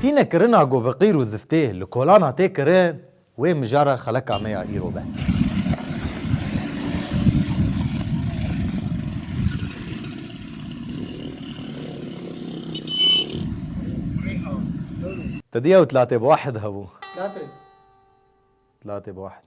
Pîne kirina ku bi qîr û ziftê li kolan hate kirin, wê mijara xeleka me ya îro be. Tedî ew tlatê bi wahid hebû. Tlatê bi wahid.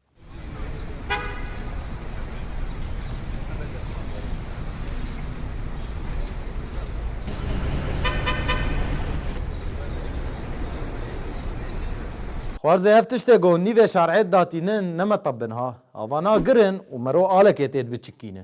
Xwarzê ev tiştê ku nîvê şarê datînin nemetebin ha. Ava na girin û mero alekê tê biçikîne.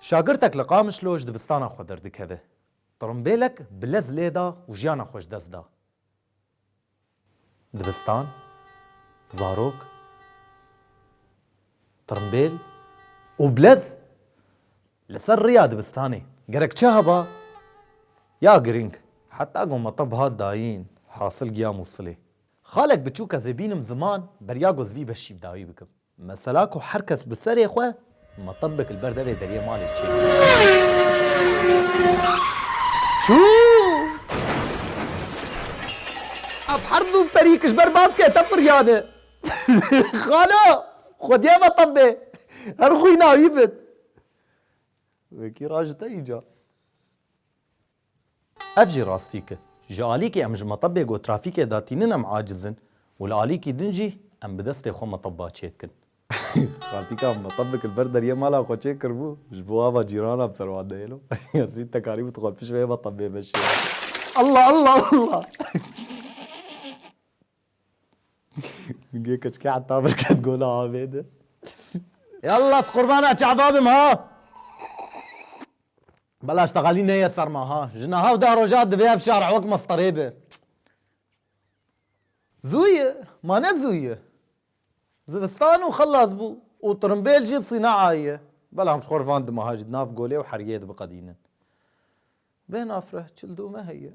Şagirtek li Qamişlo ji dibistana xwe derdikeve. Tirimbêlek bi lez lê da û jiyana xwe ji dest da. Dibistan, zarok, tirimbêl û bilez li ser riya dibistanê gerek çi heba ya girîng. Heta ku me tib hat dayîn, hasil giya Mûsilê. Xalek biçûk ez ê bînim ziman, berya ku ez vî beşî bi dawî bikim. Mesela ku her kes bi serê xwe metebek li ber devê deriyê malê çê Ev her du perî ki ji ber baskê te firyane. Xalo! Xwediya metebê her xwîna wî bin. Wekî ra ji te îca. Ev jî rastîk e. Ji alîkê em ji metebê ku trafîkê de tînin em aciz in û li alîkî din jî em bi destê xwe meteba çê dikin. Rastîka em metebek li ber deriyê mala xwe çê kiribû, ji bo ava cîranan bi ser wan neyên û Yasîn Tekarî û xwe pişt vê metebê veşiya. Alla! Alla! Alla! Ningê keçikê heta vir ket gola avê de. Yalla ez qurbana çava bim ha! Belaş teqelî neye ser me ha. Ji niha û deh rojan divê ev şar ewek mesterê be. Zû ye, ma ne zû ye. Zivistan û xilas bû û tirimbêl jî sînaa ye. Belam ji xwe re van di meha jî di nav golê û hergeyê dibiqedînin. Bê nafireh çil dû me heye.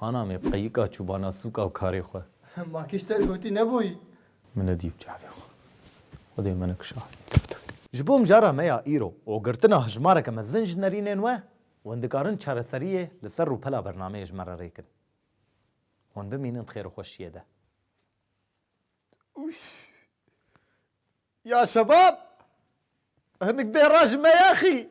Ana me qeyika çûbana sûka û karê xwe. Ma kî ji te hotî nebûyî. Min nedî bi çavê xwe. Xwedê me nekişanî. Ji bo mijara me ya îro û girtina hejmareke mezin ji nerînên we, hûn dikarin çareseriyê li ser rûpela bernameyê ji me re rêkin. Hûn bimînin di xêrûxweşiyê de. Ûş! Ya şebab! Hinik bê re ji me ya xî!